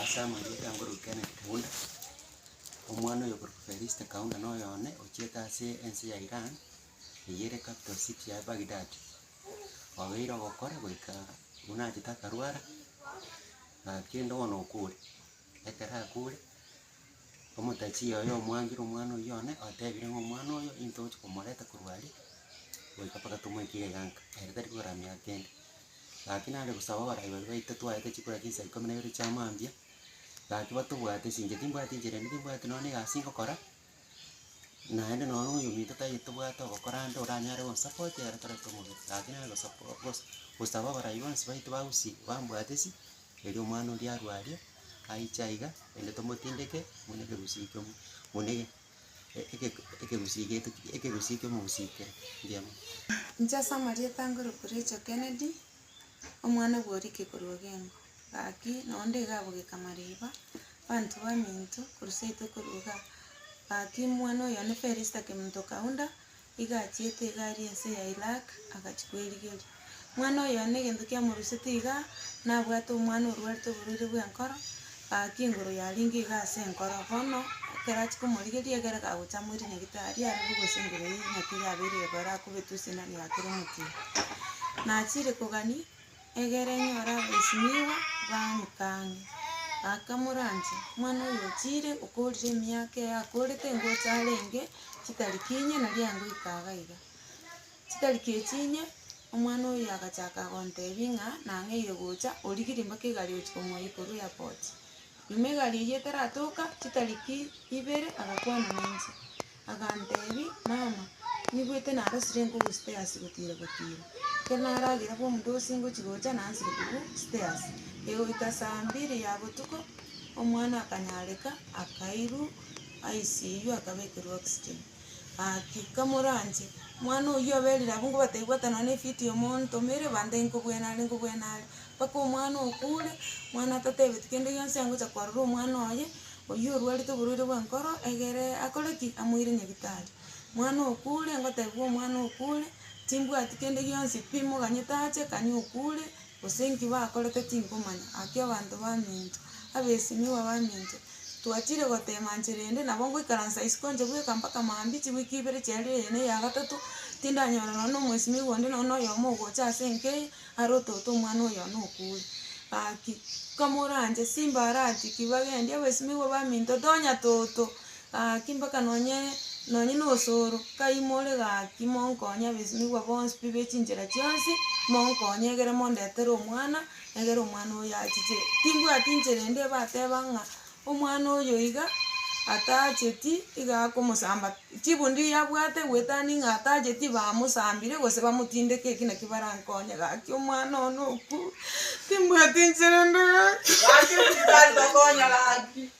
Ase amarieta ngoruka Kenneth Kaunda, omwana oyokorokwa Felista Kaunda na oyo one ochiete ase ense ya Iran, eye ere capital city ya Baghdad. Obeire ogokora goika buna achete akarwara, na kende bono okure. Ekero akuure, omotachie oye omwangire omwana oyio one, otebire ng'a omwana oyo intwe togochia komoreta korwa aria, goika mpaka tomoikire iga nka, ere tari kogera miaka kende. Gaki nare gosaba abarai baria baito twaete chikura chinsa ikomi na ibere chia mambia, gaki batobwate sinche timbwati inchera ende timbwati nonye na egasi ngokora. naende nonya oyomwito tai tobwate ogokora ande oranyare gosapote ere tarenge omobere lakini are gosap gos gosaba abarai bonsi baito ba gusii bambwatesi, erio omwana oria arwe aria, aiche aiga ende tomotindeke buna ekegusii kiomo buna ege eke ekegusii giaito ekegusii kiomogusii kere, mbuya mono. Inche ase amarieta ngorokwa Rachel Kennedy. omwana bw'orike korwa gengo, gaki noonde iga agogeka mariba, abanto baminto korwa seito korwa igaa. Gaki omwana oyo one Perisita kemonto kaunda, iga achiete iga aria ense ya Irak, agachia kwerigeria. Omwana oyo one egento kiamorusete igaa, nabwate omwana orwarete oborwaire bw'enkoro, Gaki igoro yarenge iga ase enkoro, bono ekero achia komorigeria egere gagocha amoire nyagetari aroro gose enguru eye naki yabeire igoro akobetwe esindano ya kera omotienyi. Nachire kogania egere enyore abaisimiigwa bamotang'e, bakamoranche, Omwana oyo ochire okoorire emiaka eye akoorete ingocha arenge chitarikiinyie na riango ika iga iga. Chitari chi'echi inye, omwana oyio agachaka gontebia ng'a nang'eire gocha, origirie mpaka egari gochia komoyia korwa airport. Nyuma egari eyio etaratoka, chitariki ibere agakwana nainche, agantebia, mama, nigwete narosire nkogu stairs gotira gotira, ekero naragera bomudosi ngochia gocha nansire korwa stairs, egoika saa mbiri ya botuko, omwana akanyareka, akairwa ICU akabekerwa oxygen. Gaki, kamoranche, omwana oyio aberire abwo ngobatebiwata nonya na efiti ya omonto ime ere ebanda eye nkobwene are nkobwene are, mpaka omwana okure, omwana atatebeti kende gionsi angocha korora omwana oye, oyio orwarete oborwaire bw'enkoro egere akore ki? Amoire nyabitari. Omwana okure, ngotebiwa omwana okure, timbwati kende gionsi pi, moganyete ache, kanya okure. Gose inki bakorete tinkomanya. Gaki abanto baminto, abesimigwa baminto, twatiire goteema nchera ende, nabo ngoikaransa isiko nche bweka mpaka mambia chiwiki ibere chiarire eye na eya gatato, tindanyora nonye na omwesimigwa onde nonye na oyomo ogocha ase enka eye, are ototo omwana oyo one okuure. Gaki, nkamoranche, Simba arati ki, bagendi abesimigwa baminto, tonya toto, Gaki mpaka nonye nonye nosooro, kai more gaki monkonye abesinigwa bonsi pi bechinchera chionsi, monkonye egere mondetere omwana, egere omwana oyo achiche. Timbwati inchera ende ebateba ng'a omwana oyo iga atacheti iga akomosamba, chibundi yabwate gwetania ng'a atacheti bamosambire gose bamotindeke eki naki barankonye gaki omwana oo nokwo, timbwati inchera ende gaki.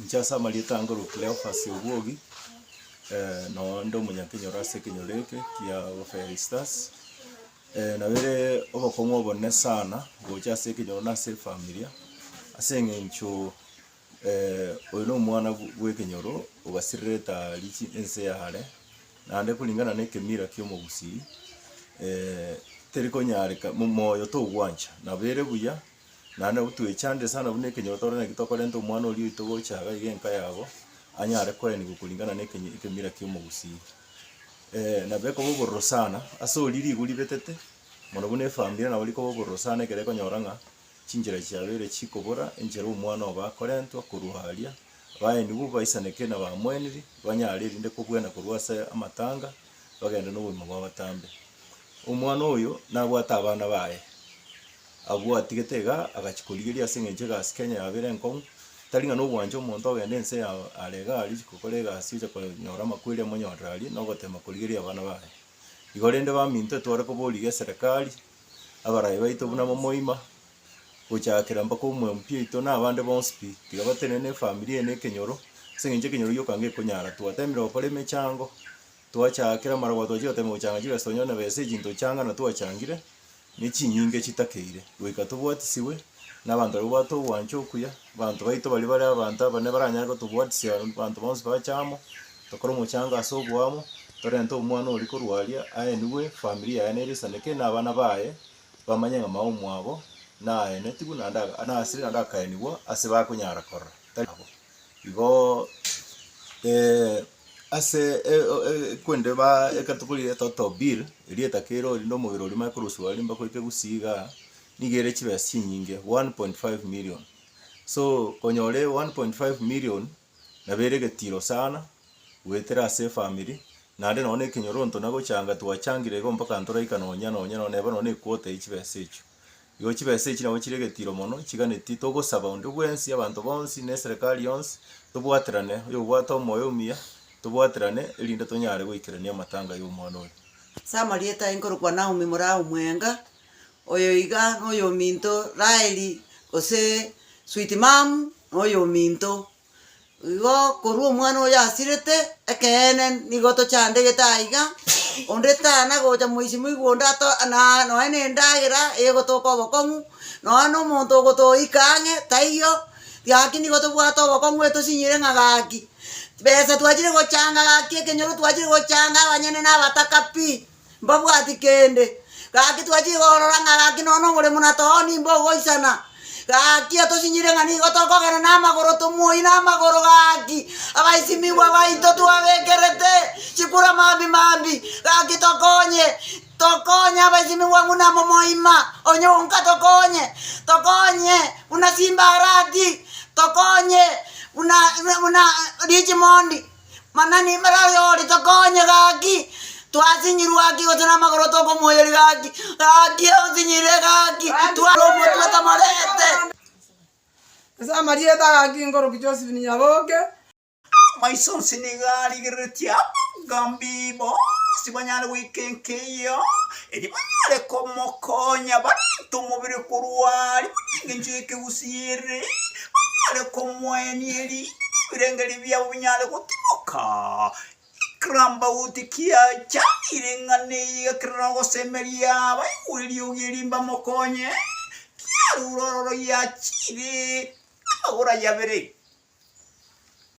Inche ase amarieta ange ore o Cleophas Obwogi, nonya onde omonyakenyoro ase ekenyoro eke kia Fairy Stars. Nabere obokong'u obonene sana gocha ase ekenyoro na ase efamiri, ase eng'encho. Oyo nomwana bw'ekenyoro ogasirereta riche ense yare, naende koringana nekemira ki'omogusiri terikonyareka, moyo togwancha. Nabo ere buya, naende nabo twechandire sana buna ekenyoro tore nakio tokorenta omwana oria oito gocha iga iga enka yabo, anyare koenigwa koringana nekemira ki'omogusii. Nabo ekoba obororo sana ase oria ribu ribetete, mono buna efamiri nabo rikoba obororo sana ekero ekonyora ng'a Chinchera chiabeire chikobora, enchera omwana obo akorentwa korwa aria, abaenigwe baisaneke nabamweniri, banyare erinde kobuena korwa ase amatanga, bagende nobogima bw'abatambe. Omwana oyo nabwate abana baye, abwo atigete iga agachia korigeria ase engencho egasi Kenya yabeire enkong'u, tari ng'a nobwancha omonto ogende ense ya are iga aria gokora egasi ocha konyora amakweri amonyorere aria na ogotema korigeria abana baye. Igo rende baminto etware koborigia eserekari. abaraai baito buna momoima, gochaakera mpaka omwempi oito na abande bonsi pi, tiga batenene efamiri eye na ekenyoro, ase eng'encho ekenyoro gioka ngekonyara. Twateemire gokora emechango, twachaakera amarabwo, twachia goteemia gochanga chibeso, tonyore na besa echi ntochanga na twachangire, ne chinyinga echitakeire, goika tobwatisigwe, na abanto baria babwate ogwancha okuya, abanto baito baria bare abanto abanene baranyare gotobwatisia abanto bonsi bache amo, tokore omochango ase oboamo, torente omwana oria korwa aria aenigwe, efamiri yaye nere esaneke na abana baye bamanye ng'a mama omwabo naenetigwe naende aka nasire naende akaenigwa ase bakonyara korora tari nabo. Igoo ase e- o- e- ekwende baa ekero tokorire etoto bill, erieta kerori rinde omobere oria omanye korosiwa rinde bakoreta egusii igaa, Nigo ere chibesa chinyinge, one point five million. So konyore one point five million nabo ere egetiro sana goetera ase efamiri, naende nonye na ekenyoronto na gochanga twachangire igo mpaka ntoraika nonya nonya nonye neba nonye na equota ya chibesa echio. Igo chibesa echio nabo chire egetiro mono chiganeti togosaba onde bwensi abanto bonsi na eserekari yonsi tobwaterane oyobwate omoyo omuya tobwaterane erinde tonyare goikerania amatanga ya omwana oyo. Ase amarieta aye nkorokwa Naomi, mora omwenga. Oyo iga noyominto Raheli gose sweet mum noyominto. Igo korwa omwana oyo asirete, ekeene nigo tochandegete aiga, onde tanagocha moichi moigwa onde ato na nonye na endagera egotoka obokong'u, nonye na omonto ogotoika ang'e taiyo, gaki nigo tobwate obokong'u etosinyire ng'a gaki besa twachire gochanga gaki ekenyoro twachire gochanga abanyene nabataka pi. mbabwati kende. Gaki twachire korora ng'a gaki nonya nomoremo na tooni mbogoisana. Gaki otosinyire ng'a nigo tokogenda namagoro tomoyi namagoro gaki abaisimigwa baito twabekerete chikura mambi mambi gaki tokonye tokonye abaisimigwa buna momoima onye onka tokonye tokonye buna simbarati tokonye buna buna richmond. Mana nimbare oyore tokonye gaki twasinyirwe gaki gose namagoro tokomoyeri gaki gaki onsinyire gaki tware omotwe tomorete ase amarieta gaki nkoroki Josephine Nyaboke amaiso onsi nigo arigereretie abanga mbibo onsi banyare goika enka eyio erio banyare komokonya barente omobere korwa aria buna engencho y'ekegusii ere. tonyare komoenia erio ebirengeri biabo binyare gotimoka. Ikera mbauti kiacha ring'ana eye igakerera ogosemeria abaigwa eriogi erio mbamokonye, kiarure ororo yachire amagoro aye abere.